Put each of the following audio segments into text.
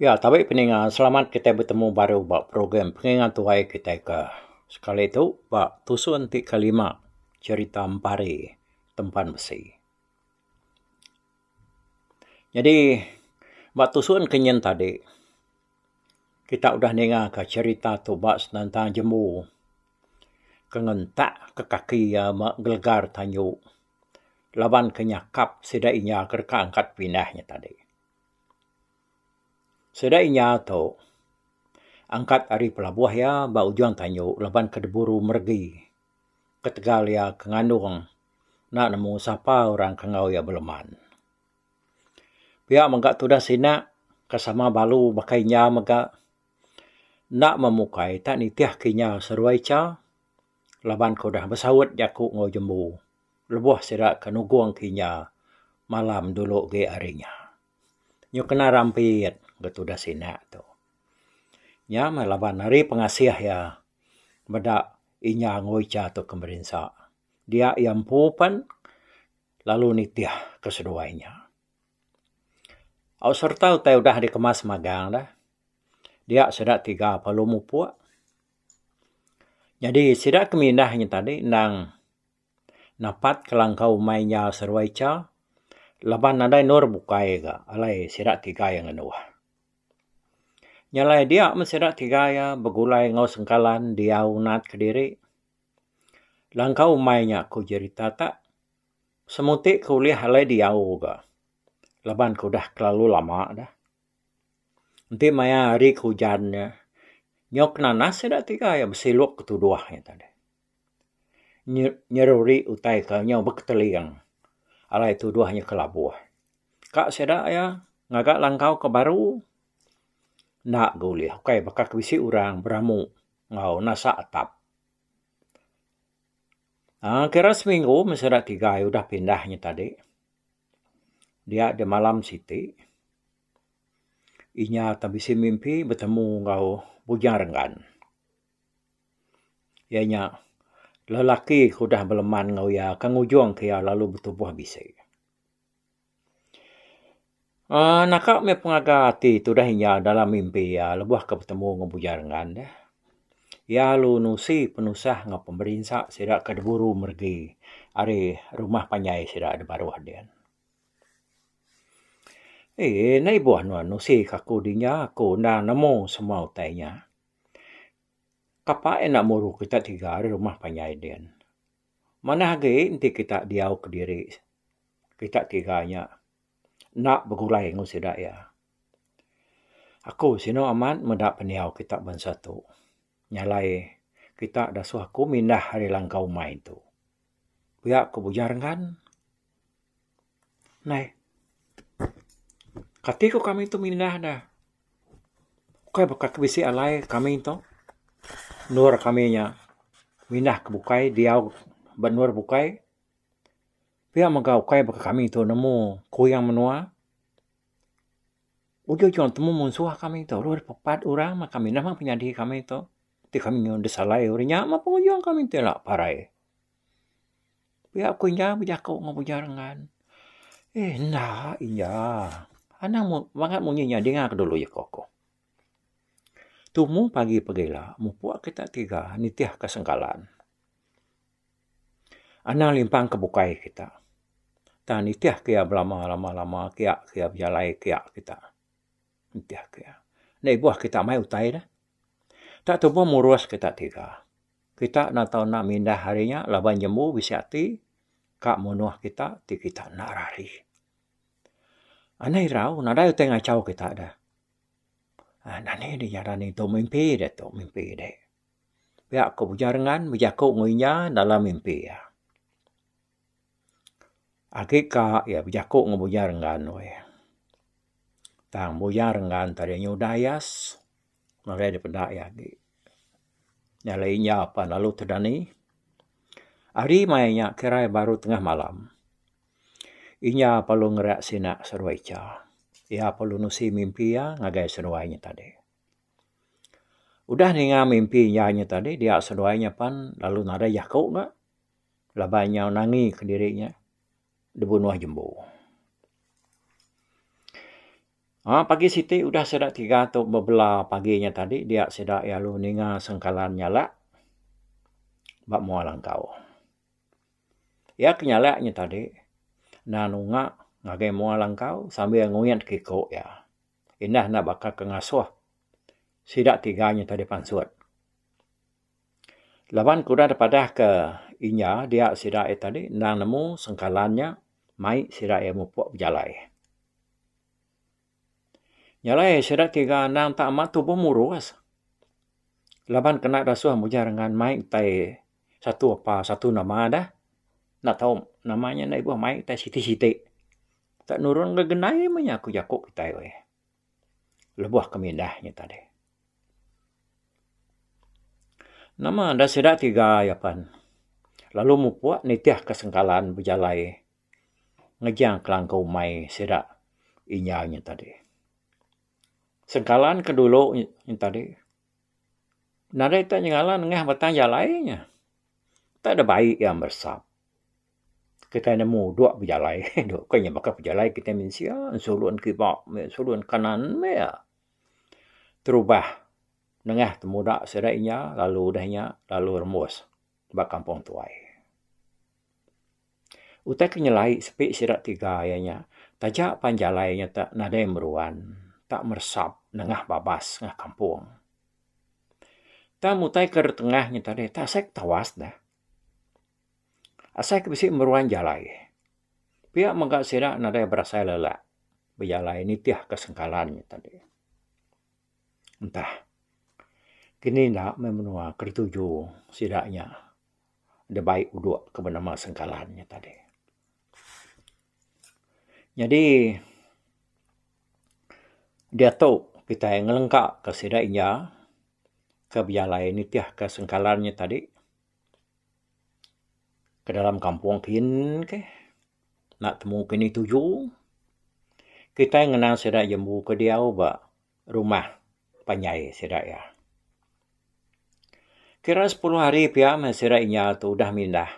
Ya, tabe peninga selamat kitai betemu baru ba program penginga tuai kitai ke sekali tu ba tusun ti kelima cherita empari tempan besi. Nyadi ba tusun ke nyin tadi kita udah ninga ka cherita tu ba senentang jembu ke ngentak ke kaki iya me gelegar tanyu laban ke nyakap sida inya ke deka angkat pindah nya tadi. Sida inya tu angkat ari pelabuh iya ba ujung tanyu laban ke diburu meregi. ketegal iya ke ngandung enda nemu sapa orang ke enggau iya beleman. Pia mega tudah sina ke sama balu baka inya mega enda memukai tak nitihka inya seruai cha laban ke udah besaut jaku enggau jembu lebuh sida ke nugungka inya malam dulu agi ari nya. Nyu kena rampit ga tudah sina tu. Nya meh laban ari pengasih iya meda. Inya ngoi cha tu ke merinsa. Dia iya empu pen lalu nitih ke seduai nya. Au serta utai udah dikemas magang dah. Dia sida tiga perlu mupuk. Nyadi sida ke mindah nya tadi endang napat kelangkau umai nya seduai cha laban nadai endur bukai ga alai sida tiga iya ngenuh. Nya alai dia meh sida ti tiga iya begulai enggau sengkalan diau nat kediri. Langkau umai nya ku jerita ta semuti ke ulih alai diau ga laban ke udah kelalu lama dah. Enti maya hari ke ujan nya nyau ke nanas sida tiga iya besiluk ke tuduh nya tadi. Nyeruri utai ke nyau beketeling alai tuduh nya kelabuh. Ka sida iya ngaga langkau ke baru enda ga ulih ukai baka ke bisi orang beramu enggau nasa atap. aaa kira seminggu meh sida tiga udah pindah nya tadi dia di malam siti inya akan bisi mimpi betemu enggau Bujang Renggan. Iya nya lelaki ke udah beleman enggau iya ke ngujung ke iya lalu betubuh bisi. uhh naka mih pengaga ati tudah inya dalam mimpi iya lebuh ke betemu enggau Bujang Rengan deh. Iya lalu nusi penusah enggau pemerinsa sida ke diburu meregi ari rumah panjai sida da baruh din. Eeh enda ibuh nuan nusi ka aku dinya, aku enda nemu semua utai inya. Kapa enda muru kita tiga ari rumah panjai din. Manah agi enti kita diau kediri kita tiga nya enda begulai ngan sida iya. Aku sinu amat meda pendiau kita bansa tu nya alai kita da suah aku mindah ari langkau mai tu. Pia ku Bujang Renggan. Nai. Kati ku kami tu mindah ne. Kai baka ke bisi alai kami tu. Endur kami nya mindah ke bukai, diau ba endur bukai. Pia mega ukai baka kami tu nemu kuyang menua. Ujuh ujuh temu munsuh kami tu. Ulu dep pepat orang meh kami neh meh penyadi kami tu. Ti kami nyu desalai uri nya meh pengujung kami ti la parai. Pia ku inya bejaku enggau Bujang Rengan. Eh enda iya. Anang mu bangat munyi nya dinga ke dulu jaku aku. Tumu pagi pagi ila mupuk kita tiga nitih ke sengkalan. Anang limpang ke bukai kita. Tang nitih ke iya belama lama lama kia ke iya bejalai kia kita. Nitih ke iya. Enda ibuh kita mai utai ne. Tak tubuh murus kita tiga. Kita enda tau enda mindah ari nya laban jembu bisi ati ka munuh kita ti kita enda rari. Anih irau nadai utai ngachau kita deh. Anih dih ngaran nya tu mimpi deh tu mimpi deh. Pia ku Ujar Ngan bejaku enggau inya dalam mimpi iya. Agi ka iya bejaku enggau Ujar Ngan weh. Tang Ujar Ngan tadi nyudah iya. Marai da peda iya agi. Nyala inya pan lalu ti dani. Ari maya inya kira iya baru tengah malam. Inya perlu ngera sina seruai cha. Iya perlu nusi mimpi iya ngagai seduai inya tadi. Udah ninga mimpi iya inya tadi dia seduai inya pan lalu nadai jaku ga laban inya nangi ke diri inya dibunuh jembu. Haa pagi siti udah sida tiga tu bebela pagi nya tadi dia sida lalu ninga sengkalan nyalak ba mua langkau. Iya ke nyalak nya tadi enda nunga ngagai mua langkau sambil nguyit ke iko iya. Indah enda baka ke ngasuh sida tiga nya tadi pansut. Laban kuda dipadah ke inya dia sida ia tadi endang nemu sengkalan nya mai sida ia mupok bejalai. Nyalai sida tiga endang tak amat tubuh murus laban kena dasuh mujah dengan mai tai satu apa satu nama dah enda tau nama nya enda ibuh mai tai siti-siti. Tak nurun gak gendai mah nya aku jako kitai. lebuh kami indah nya tadi. Nama enda sida tiga iya pan lalu mupuk nitihka sengkalan bejalai ngejang kelangka umai sida inya nya tadi. Sengkalan ke dulu nya tadi nadai tau nyengala nengah batang jalai nya. Tau deh baik iya meresap. kitai nemu dua bejalai dok ko nya baka pejalai kitai mensia sulun kiba meh sulun kanan meh terubah nengah temuda sida inya lalu deh nya lalu rembus ba kampung tuai. Utai ke nyelai sepi sida tiga iya nya taja pan jalai nya te nadai meruan tak meresap nengah babas nengah kampung. Tang utai ke tengah nya tadi tasek tawas neh. Asai ke bisi meruan jalai. Pia mega sida nadai berasai lelak bejalai nitih ke sengkalan nya tadi. Entah kini enda meh menua ke dituju sida nya da bai udok ke benama sengkalan nya tadi. Nyadi diatu kitai ngelengkaka sida inya. ke bejalai nitihka sengkalan nya tadi ke dalam kampung kin ke enda temu kini tuju. Kitai ngena sida jembu ke diau ba rumah panjai sida iya. Kira sepuluh hari pia meh sida inya tu udah mindah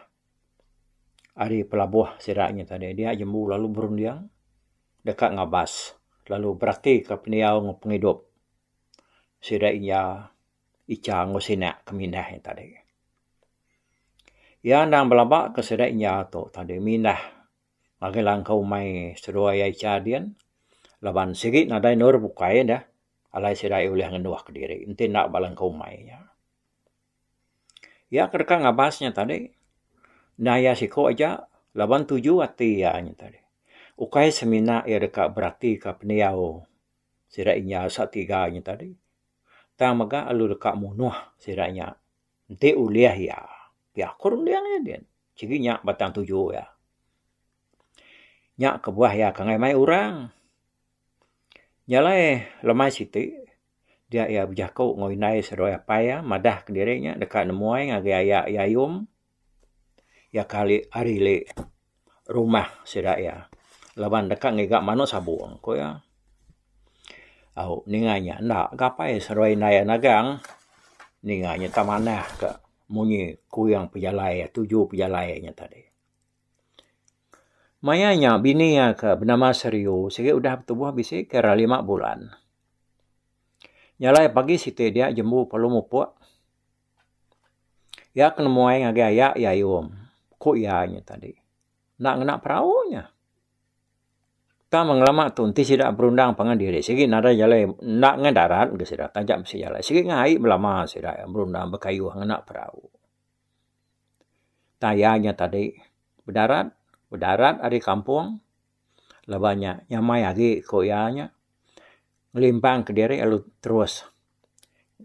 ari pelabuh sida nya tadi dia jembu lalu berunding deka ngabas lalu beratika pendiau enggau pengidup. sida iya icha enggau sina ke mindah iya tadi. Iya endang belaba ke sida iya tu tadi mindah ngagai langkau umai seduai iya icha din laban sigi nadai endur bukai deh alai sida iya ulih ngenduh kediri enti enda ba langkau umai iya. Iya ke deka ngabas iya tadi enda iya siku aja laban tuju ati iya nya tadi ukai semina iya deka beratika pendiau sida inya satiga nya tadi. Tang mega lalu deka munuh sida nya enti ulih iya pia ku runding iya din. Sigi nya batang tuju iya. Nya kebuah iya ke mai orang. Nya alai lemai siti dia iya bejaku enggau indai seduai apai iya madah diri iya deka nemuai ngagai aya iya ayum. Iya kali ari li rumah sida iya laban deka ngiga manu sabong ku iya. Au ninga inya enda ga apai seduai indai iya nagang ninga inya tak manah ka munyi kuyang pejalai iya tuju pejalai inya tadi. Maya inya bini iya ke benama Seriu sigi udah betubuh bisi kira lima bulan. Nyalai pagi siti diak jembu perlu mupok. Iya ke nemuai ngagai ayak iya ayom, ku iya nya tadi. Enda ngena perau nya. Tang meh ngelama tu enti sida berundang pangan diri sigi nadai jalai enda ngena darat ke sida taja mesti jalai sigi ngena ai belama sida berundang bekayuh ngena perau. Tang iya nya tadi bedarat, bedarat ari kampung. laban nya nyamai agi ku iya nya ngelimpang kediri lalu terus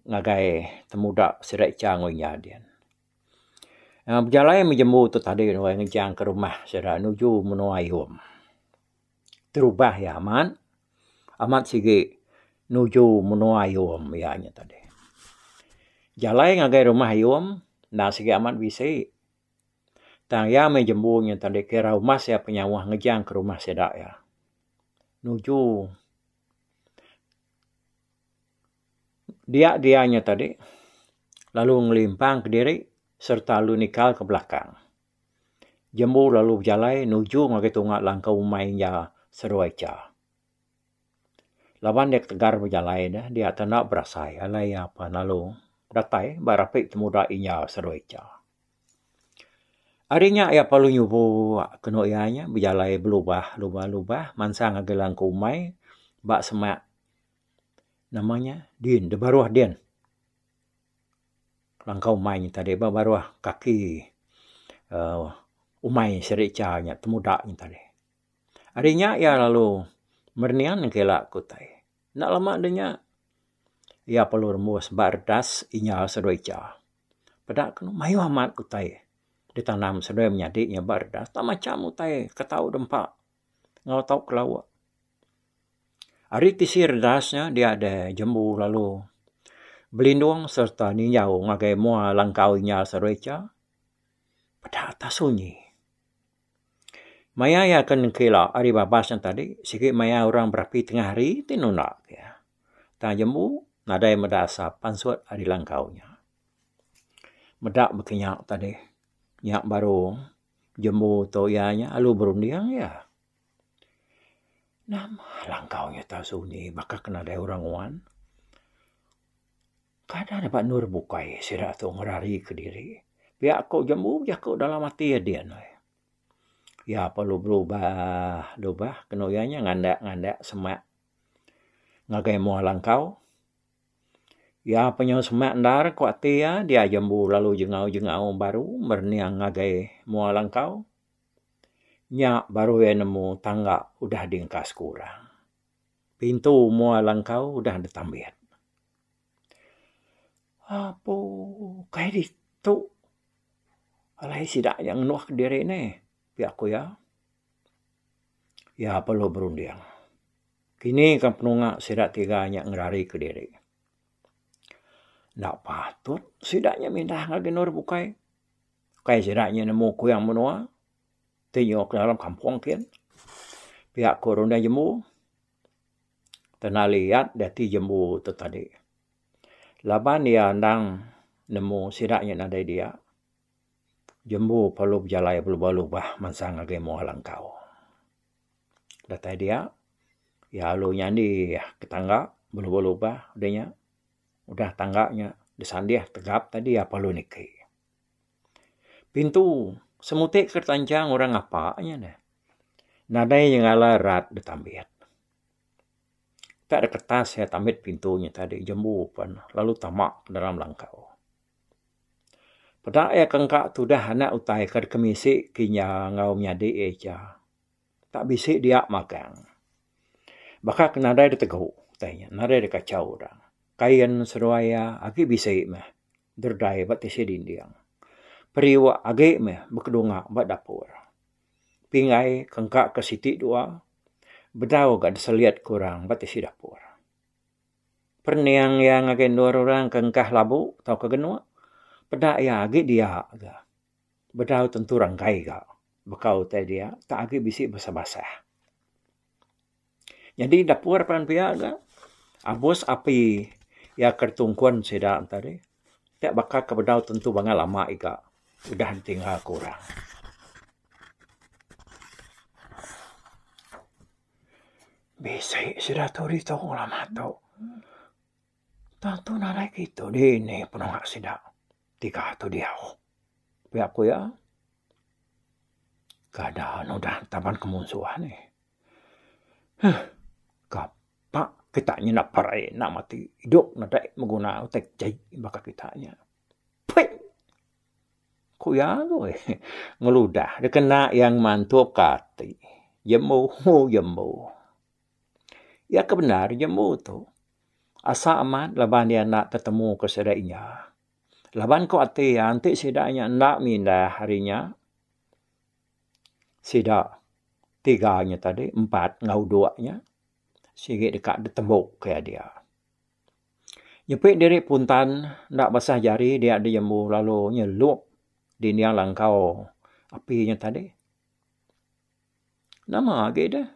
ngagai temuda sida icha enggau inya dian. Aaa bejalai meh jembu tu tadi nuai ngejang ka rumah sida nuju menua Ayom. Terubah iya amat, amat sigi nuju menua Ayom iya nya tadi. Jalai ngagai rumah Ayom enda sigi amat bisi. Tang iya meh jembu nyin tang dek kira umas iya penyauh ngejang ke rumah sida iya. Nuju dia dia nya tadi lalu ngelimpang ke diri serta lalu nikal ke belakang. Jembu lalu bejalai nuju ngagai tunga langkau umai iya serua icha. Laban iya ketegal bejalai ne, dia tau enda berasai alai iya pa lalu datai ba rapi temuda inya Sarawak Echa. Ari nya iya perlu nyubu kenu iya nya bejalai belubah lubah lubah mansang agi langku umai ba semak nama nya din da baruh din. Langkau umai nya tadi ba baruh kaki uhh umai Sarawak Echa nya temuda nya tadi. Ari nya iya lalu merenin ke ila aku utai. Enda lama deh nya iya perlu rembus ba redas inya seduai cha. Peda ke nemu mayuh amat utai ditanam seduai menyadi nya ba redas enda macam utai ke tau deh empa enggau tau ke lawa. Ari tisi redas nya dia deh jembu lalu belindung sereta ninjau ngagai mua langkau inya seduai cha peda atas sunyi. Maya iya ke nengkila ari babas nya tadi sigi maya orang berapi tengah hari ti nunda ke iya. Tang jembu nadai meda asap pansut ari langkau nya. Meda baka nya tadi nya baru jembu tu iya nya alu berunding iya. Nama langkau nya tau sunyi baka ke nadai orang nguan. Kada dapat endur bukai sida tu ngerari kediri. Pia ko jambu jako dalam ati iya din ai. Iya perlu berubah dubah kenu iya nya ngandak ngandak semak ngagai mua langkau. Iya pa nyau semak endar ko ati iya dia jambu lalu jengau jengau baru merening ngagai mua langkau. Nya baru iya nemu tangga udah di engkas kurang. Pintu mua langkau udah ditambit. Apo kai ditu alai sida nya ngenuh diri ne pia ku iya. Iya perlu berunding. Kini kan penunga sida tiga nya ngerarika diri. Enda patut sida nya mindah ngagai endur bukai. Kai sida nya nemu kuyang menua ti nyuka dalam kampung kiyen. Pia ku runding jembu. Tenaliat dati jembu tu tadi laban iya endang nemu sida nyin nadai dia jembu perlu bejalai pelubah lubah mansang agei mua langkau. Datai dia iya alu nyandi ke tangga belubah lubah dei nya udah tangga nya disandih tegap tadi iya perlu niki. Pintu semutik ke ditanchang orang ngapa nya neh nadai nyengala rat betambit. Ka de kertas iya tambit pintu nya tadi jembu pen lalu tama ke dalam langkau. Peda iya ke engka tudah anak utai ke deka misi ke inya enggau nyadi iya cha ka bisi dia magang. Baka ke nadai de tegu utai nya nadai de kachau dang. Kain seduai iya agi bisi meh. Derdai ba tisi dinding. Periuk agi meh bekedunga ba dapur. Pingai ke engka ke siti dua bedau ga diselit ke orang ba tisi dapur. Perening iya ngagai endur orang ke engkah labu tauka genuk peda iya agi dia ga bedau tentu renggai ga bekau utai dia tak agi bisi basah-basah. Nyadi dapur pan pia ga abus api iya ke tungkun sida enta deh pia baka ke bedau tentu banga lama iga udah ditingga ku orang. Bisi sida tu ditu lama tu tantu nadai kitu dini penua sida tiga tu diau pia ku iya kada anu udah taban kemunsuhan nih. Huh. Kapa kita nya enda perai enda mati idup nadai beguna utai kejai baka kita nya. Pei. Ku iya agoi ngeludah dikena iya ngemantuk ka ati. Jembu hoo jembu. Iya ke bendar jembu tu. Asa amat laban iya enda tetemu ke sida inya. Laban ku ati iya enti sida inya enda mindah ari inya. sida tiga nya tadi empat enggau dua nya sigi deka ditembu ke adia. Nyepi diri puntan enda basah jari dia diembu lalu nyelup dinding nya langkau api nya tadi nama agi deh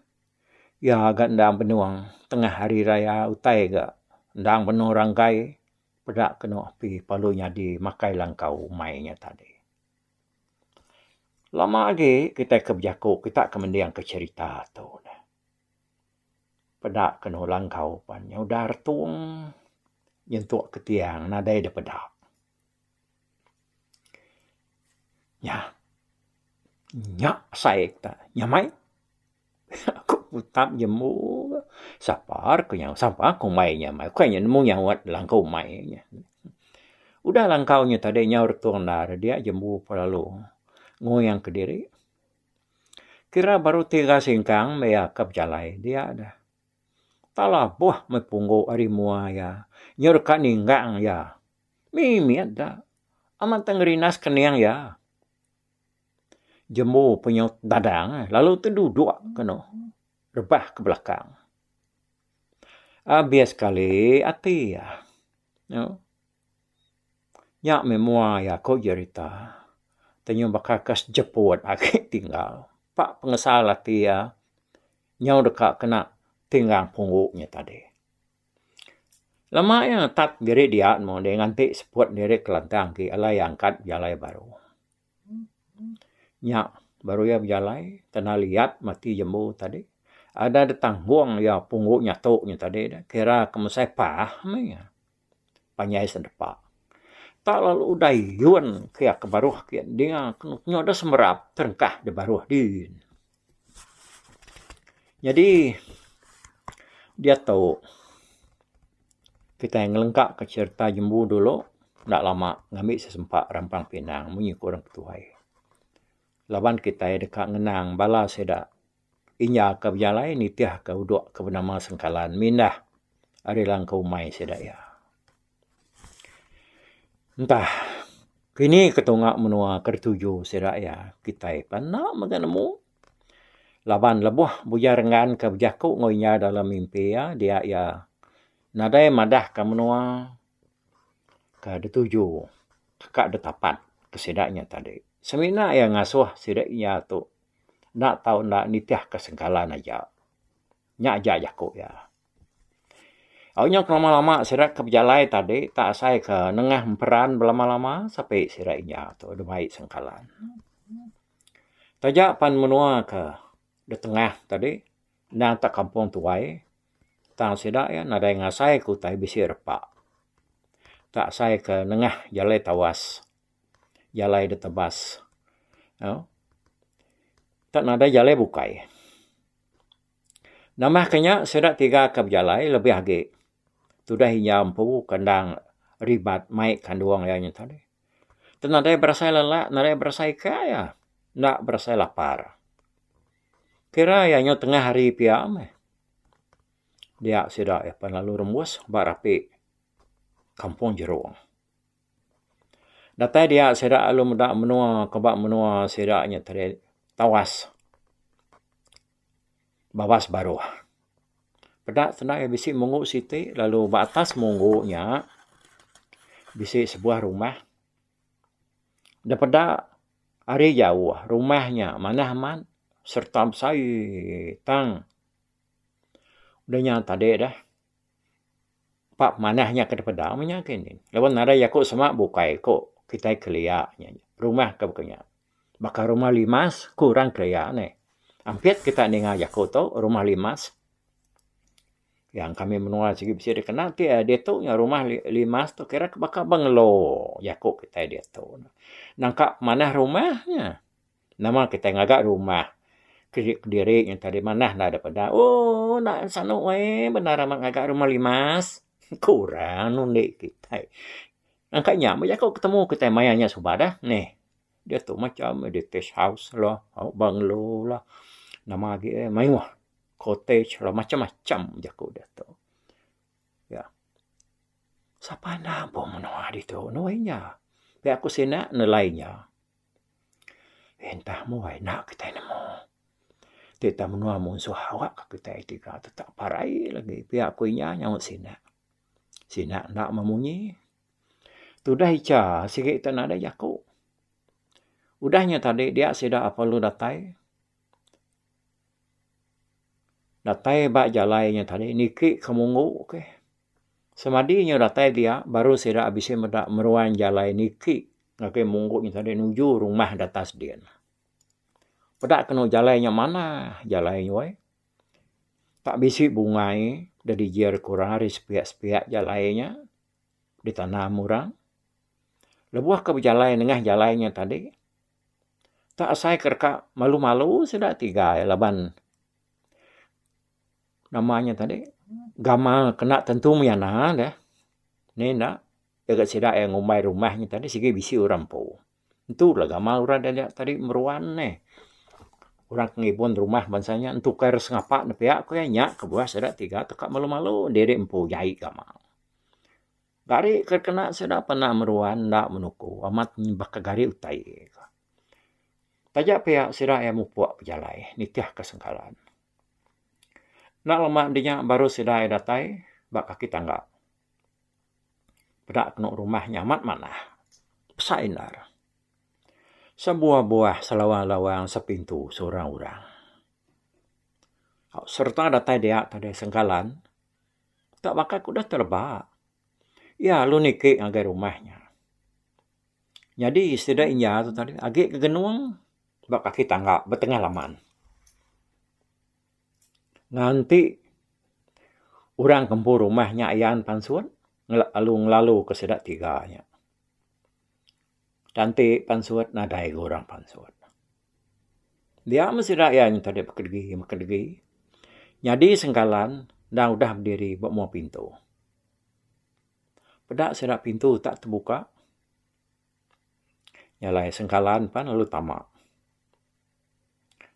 iya ga endang benung tengah hari raya utai ga endang benung ranggai peda kenu api lalu nyadi makai langkau umai nya tadi. Lama agi kitai ke bejaku kita ke mendingka cherita tu neh. Peda ke nemu langkau pan nya udah retung nyentuk ke tiang nadai deh peda. Nyah. Nya sai kita. Nyamai. Aku putak jembu ke sapa re ke nyau sapa ke umai inya mai ukai inya nemu nyawat langkau umai inya. Udah langkau inya tadi nyau re tung enda re dia jembu pe lalu nguing ke diri. Kira baru tiga singkang meh iya ke bejalai dia de talabuh meh punggu ari mua iya nyau deka ninggang iya mimit da amat tengerindas kening iya. Jembu penyaut dadang lalu tu duduk kenu rebah ke belakang. Abih sekali ati iya. Nya meh mua iya ku jerita ti nyau baka ke sejeput agi tinggal. Pak pengesal ati iya nyau deka kena tinggang punggu nya tadi. Lama iya netap diri diak nemu diri nganti seput diri kelantang ti alai iya angkat bejalai baru. Nya baru iya bejalai kena liat mati jembu tadi. Ada da tanggung iya punggu nyatu nya tadi dah kira ke mesai pah meh iya. Panjai sedepa. Ta lalu udah yuen kiya ke baruh kiya dinga ke nyu da semerap terengkah da baruh din. Nyadi diatu kitai ngelengka ka cherita jumbu dulu enda lama ngambi sesempa Rampang Pinang mung nyi ku orang ketuai. Laban kitai deka ngenang bala sida inya ka bejalai nitih ka udok ke benama Sengkalan mindah ari langkau umai sida iya. Ntah kini ke tunga menua ke dituju sida iya kitai pun enda mega nemu laban lebuh Bujar Enggan ke bejaku enggau inya dalam mimpi iya dia iya nadai madahka menua ke dituju ka ditapat ke sida nya tadi. Semina iya ngasuh sida iya tu enda tau enda nitihka sengkalan aja. Nya aja jaku iya. Au nya kelama-lama sida ke bejalai tadi tak asai ke nengah emperan belama-lama sape sida inja tu debei sengkalan. Taja pan menua ke ditengah tadi endang tak kampung tuai tang sida iya nadai ngasai ke utai bisi repa. Tak asai ke nengah jalai tawas, jalai ditebas au tak nadai jalai bukai. Nambahka nya, sida tiga ke bejalai lebih agi tudah injau empu ke endang ribat mai kandung iya nyentah dih. Tu nadai berasai lelak, nadai berasai ika iya. Enda berasai lapar. Kira iya nyau tengah hari pia meh. Dia sida iya pan lalu rembus ba rapi kampung jerung. Datai dia sida lalu meda menua ke ba menua sida nya tadi tawas. bawas baruh. Peda senda iya bisi munggu siti lalu ba atas munggu nya bisi sebuah rumah. Da peda ari jauh rumah nya manah amat sereta besai tang. Udah nya tadi dah. Ba manah nya ke dipeda meh nya agei nih. Laban nadai jaku sema bukai ku kitai kelia nya. Rumah ke baka nya. Baka rumah limas ku orang kelia nih. Ampit kita ninga jaku tu rumah limas. Yang kami menua sigi bisi dikena ti iya ditu nya rumah limas tu kira ke baka bengelo jaku kitai ditu. Nangka manah rumah nya. Nama kitai ngaga rumah ke kediri nyengka diri manah enda dep eda. Ooh enda sanu weh bendar amat ngaga rumah limas. Kurang undi kitai. Angka nya meh jaku ketemu kitai maya nya suba dah neh. Diatu macam detich house lah, banglo lah, nama agi eh mayuh cottage lah macam-macam jaku diatu. Ya. Sapa enda ampung menua ditu nuh inya. Pia ku sida nelai inya. Entah mua enda kitai nemu. Ti tau menua munsuh awak ka kitai ti ka tetap parai lagi pia ku inya nyaut sina. Sina enda meh munyi. Tudah icha sigi te nadai jaku. Udah nya tadi dia sida apai lu datai. Datai ba jalai nya tadi niki ke munggu keh. Semadi inya datai dia baru sida bisi meda meruan jalai niki ngagai munggu nya tadi nuju rumah da atas din. Peda kenu jalai nya manah jalai nya wei. Tak bisi bungai da dijir ku orang ari sepiak-sepiak jalai nya ditanam orang. Lebuh ke bejalai nengah jalai nya tadi. Tang asai ke deka malu-malu sida tigai laban nama nya tadi gamal kena tentu maya na deh. Ni enda tega sida iya ngumbai rumah nya tadi sigi bisi orang empu. Entu la gamal orang didik tadi meruan nih. Orang ke ngibun rumah bansa nya entukar sengapa ne pia ku iya nya kebuah sida tiga teka malu-malu diri empu jai gamal. Gari ke kena sida pernah meruan enda menuku amat baka gari utai. Taja pia sida iya mupuk bejalai nitihka sengkalan. Enda lama enti nya baru sida iya datai ba kaki tangga peda kenu rumah nya amat manah pesak indar. Sebuah-buah selawang-lawang sepintu seurang-urang. Sereta datai dia tadi sengkalan. Utak bakal ku udah tereba. Iya lalu niki ngagai rumah nya. Nyadi sida inya tu tadi agi ke genung ba kaki tangga ba tengah laman. Nganti orang kempu rumah nya ayan pansut lalu ngelalu ke sida tiga nya. Tanti pansut nadai ga orang pansut. Dia meh sida iya nyengka deh beken degi beken degi nyadi sengkalan enda udah bediri ba mua pintu. Peda sida pintu tak tebuka nya alai sengkalan pan lalu tama.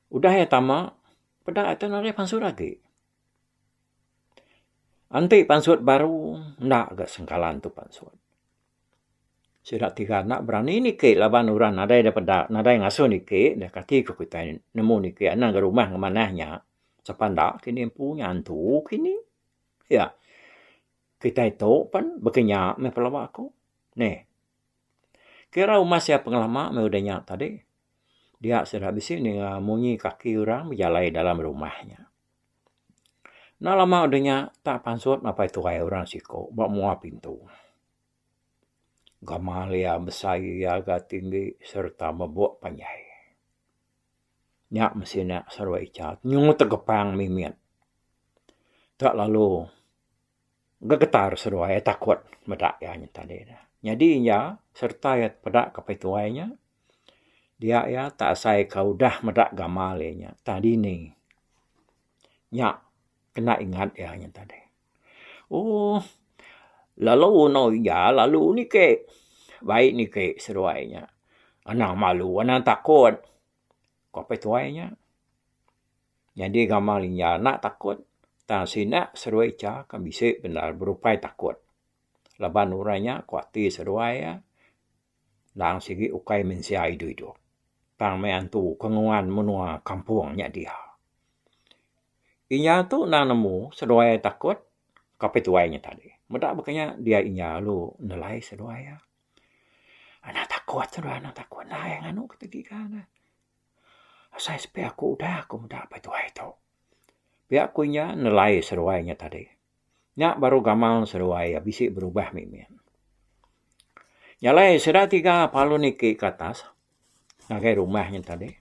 Udah iya tama peda iya tu nadai pansut agi. Enti pansut baru enda ga sengkalan tu pansut. Sida tiga enda berani niki laban orang nadai da peda, nadai ngasuh niki, da kati ku kitai nemu niki anang ga rumah ngemanah nya. Sapa enda kini empu nya antu kini. Pia kitai tu pen baka nya meh pengeleba aku. Neh. Kira umas iya pengelama meh udah nya tadi. Dia sida bisi ninga munyi kaki orang bejalai dalam rumah nya. Enda lama udah nya tak pansut mapai tuai orang siko ba mua pintu. Gamal iya besai iya ga tinggi serta mebok panjai. Nya mesti nya serba icha nyungut tegepang mimit. Tak lalu. Gegetar seduai iya takut meda iya nyen tadi nya. Nyadi iya sereta iya peda ke apai tuai iya, dia iya tak asai ke udah meda gamal iya nya tang dini. Nya kena ingat iya nya tadi. Ohh lalu endur iya lalu niki baik niki seduai iya. Anang malu anang takut, ku apai tuai iya. Nyadi gamal inya enda takut tang sida seduai cha ke bisi bendar berupai takut laban orang nya ko ati seduai iya tang sigi ukai mensia idup-idup tang meh antu ke nguan menua kampung nya diha. Inya tu enda nemu seduai iya takut kaping tuai nya tadi. Meda ba kinya dia inya lalu nelai seduai iya. Enda takut seduai enda takut enda iya nganu ke tegi ka. Asai sepi aku udah aku meda apai tuai tu. Pia ku inya nelai seruai inya tadi. Nya baru gamal seruai iya bisi berubah mimit. Nya alai sida tiga palun niki ke atas ngagai rumah inya tadi.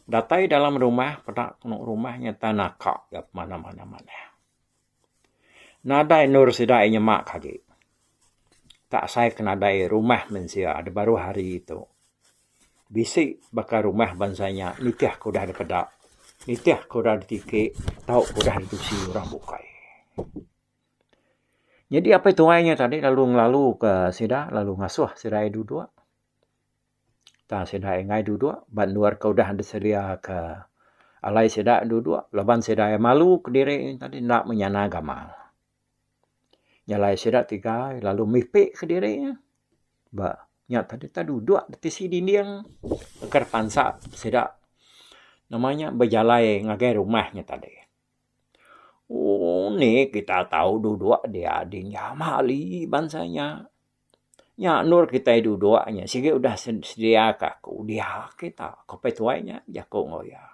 Datai dalam rumah peda tengok rumah inya tan naka iya pemandam-pandam manah. Nadai endur sida iya nyema ka agi. Ka sai ke nadai rumah mensia da baruh hari tu. Bisi baka rumah bansa nya nitih ke udah dipeda, nitih ke udah ditiki tau ke udah ditusi orang bukai. Nyadi apai tuai nya tadi lalu ngelalu ka sida, lalu ngasuh sida iya duduk. tang sida enggai dudok ba endur ke udah disedia ke alai sida dudok laban sida malu kediri tadi enda menyana gamal. Nyalai sida tiga lalu mipik kediri ba nya tadi tang dudok ti tisi dinding ngkar pansa sida nama nya bejalai ngagai rumah nya tadi. Ooh uni kita tau dudok diadi nya mali bansa nya. Nya endur kitai duduk nya sigi udah sedia ka aku udah kita ko pia tuai nya bejaku enggau iya.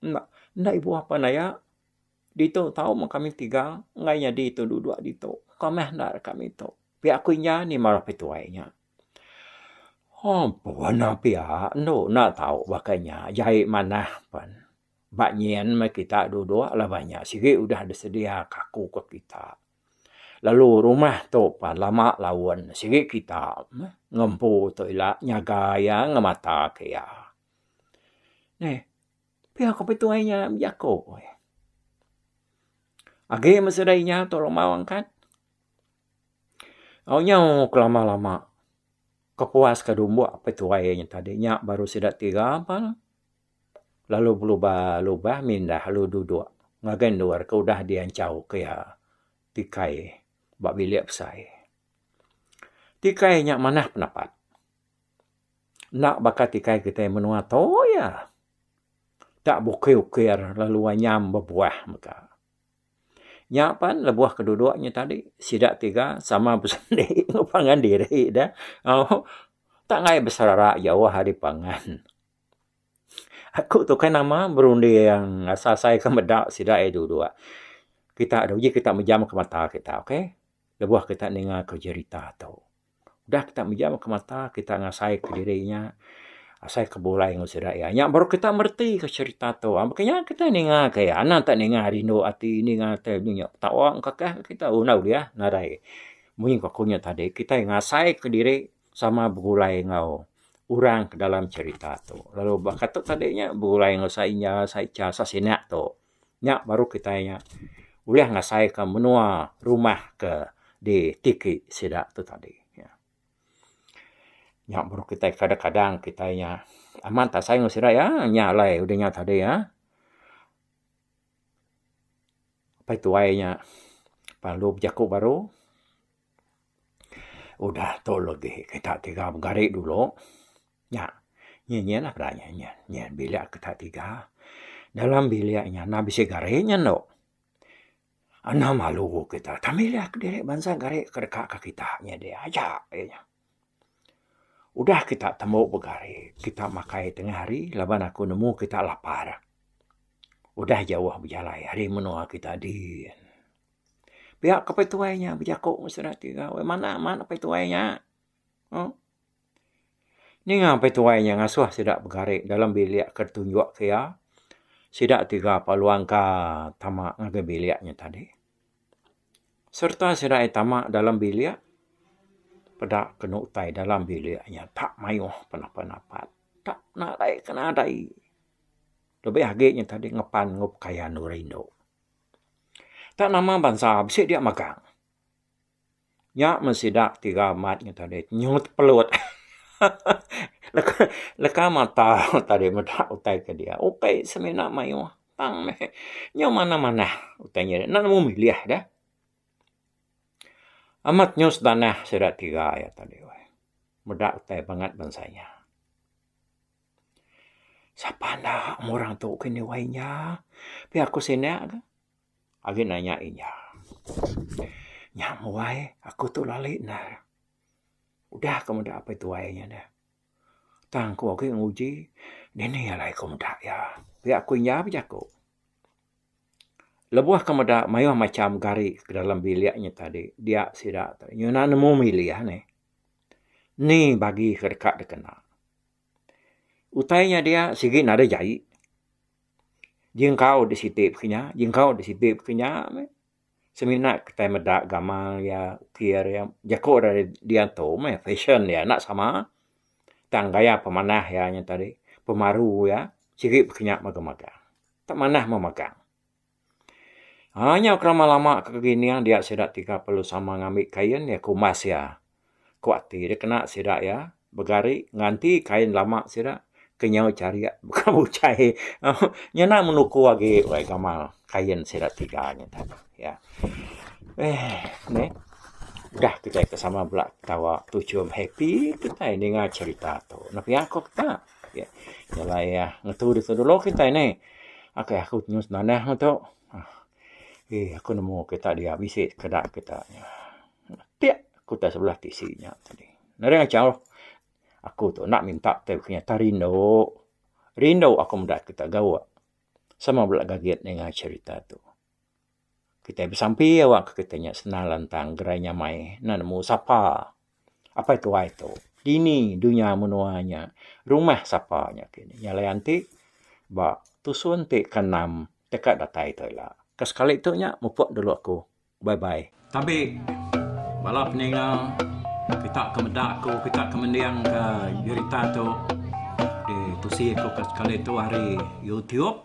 Enda enda ibu bapa naya ditu tau mun kami tiga enggai nyadi tu duduk ditu ka meh enda deka ame tu pia aku inja ni marah ko pia tuai nya. Hoo puan ne pia endu enda tau baka nya jai manah pen ba nyin meh kita duduk laban nya sigi udah disedia ka aku ka kita. lalu rumah tu pan lama laun sigi kita meh ngempu tu ila nyaga iya ngemata ke iya. Neh pia ko pituai inya bejako eh. Age meh sida inya tu lemau angkat au nyau ke lama lama kepuas ka dumbok pituai inya tadi nya baru sida tiga pan. lalu belubah-lubah mindah lalu duduk ngagai endur ke udah dianchau ke iya tikai ba bilik besai. Tikai nya manah penapat. Enda baka tikai kitai menua tu iya tak bukir-ukir lalu anyam bebuah mega. Nya pan lebuh ke duduk nya tadi sida tiga sama besendi enggau pangan diri deh. Au tak ngaie beserara jauh ari pangan. Aku tu kai nama berunding asal-asal ika meda sida aja dulu. Kita anu ji kita mejam ka mata kita okay lebuh kita ninga ka jerita tu. Udah kita mejam ka mata kita ngasai ka diri nya asai ka bulai ngan sida iya nya baru kita mereti ka serita tu. Mbuh kinya kita ninga ka iya anak enta ninga rindu ati ninga ati anu nya tawa engkakah kita unau dia nadai. Mung aku nya tadi kita ngasai ka diri sama begulai enggau orang ke dalam cerita tu lalu baka tu tadi nya begulai enggau sainya saicha sasina tu nya baru kitai nya ulih ngasai ka menua rumah ke di tiki sida tu tadi nya baru kitai kadang kadang kitai nya amat asai enggau sida iya nya alai udah nya tadi iya pai tuai nya lalu bejaku baru. Udah tu legi kita tiga begari dulu nya nyinyir lah kita nyinyir nyinyir bilik kita tiga dalam bilik nya enda bisi gari nya endo enda malu kita tang milih diri bansa gari ke deka ke kita nya deh aja aja nya. Udah kita tembu begari kita makai tengah hari laban aku nemu kita lapar udah jauh bejalai ari menua kita din. Pia ke apai tuai nya bejaku ngan sida ti ga wei manah amat apai tuai nya. Aa. Ninga apai tuai nya ngasuh sida begari dalam bilik ke ditunjuk ke iya. Sida ti ga peluang ka tama ngagai bilik nya tadi. Sereta sida ai tama dalam bilik peda kenu utai dalam bilik nya tak mayuh penapa napa. Tak nadai ke nadai. Lebih agi nya tadi ngepan enggau pekayan orang indu. Tang nama bansa bisi dia magang. Nya meh sida ti ga amat nya tadi nyut pelut leka mata tadi meda utai ke dia. Utai semina mayuh tang meh nya manah manah utai nya enda nemu milih deh. Amat nyus tanah sida tiga yak tadi meda utai bangat bansa nya. Sapa enda meh orang tu ke nyuai inya. Pia ku sina ke agi nanya inya. Nya muai aku tu lali ne udah ku meda apai tuai inya deh. Tang ku agi nguji dini alai ku meda iya. Pia ku inya pun jaku. Lebuh ke meda mayuh macham gari ke dalam bilik inya tadi dia sida nyuna nemu milih anih. Ni bagi ke deka dikena. Utai nya dia sigi nadai jai. Jingkau deh siti pekeh nya, jingkau deh siti pekeh nya meh. Semina kitai meda gamal iya, ukir iya. Jaku rak diantu meh fashion iya enda sama. Tang gaya pemanah iya nya tadi, pemaru iya sigi pekeh nya magang-magang. Tok manah meh magang. Haa nyau kerama lama ke kining dia sida ti perlu sama ngambi kain iya ku emas iya. Ku ati dep kena sida iya begari nganti kain lama sida ke nyau charik buka buchai nyana men uku agi alai gamal kain sida tiga nya tu iya. Eeh neh udah kitai ke sama bela ketawa tu chum happy kitai ninga cherita tu. Nepiak ko kita. Okey. Jalai ya. Ngetu di dulu kita ini. Okey, aku nyu senanah ngetu. Ah. Eh, aku nemu kita dia bisi keda kita nya. Tiak aku tak sebelah TC nya tadi. Nari acau. Aku tu nak minta teh punya tak rindu. Rindu aku meda kita gawa. Sama bela gagit ninga cerita tu. Kitai besampi awakka kitai nya senang lantang gerai nyamai enda nemu sapa. Apai tuai tu dini dunya menua nya rumah sapa nya ke ni. Nya layan ti ba tusun ti ke enam deka datai tu ila. Ke sekali tu nya mupuk dulu aku. Bye bye. Tabi bala peninga kita ke meda aku kita ke mending ke berita tu ditusi aku ke sekali tu ari youtube.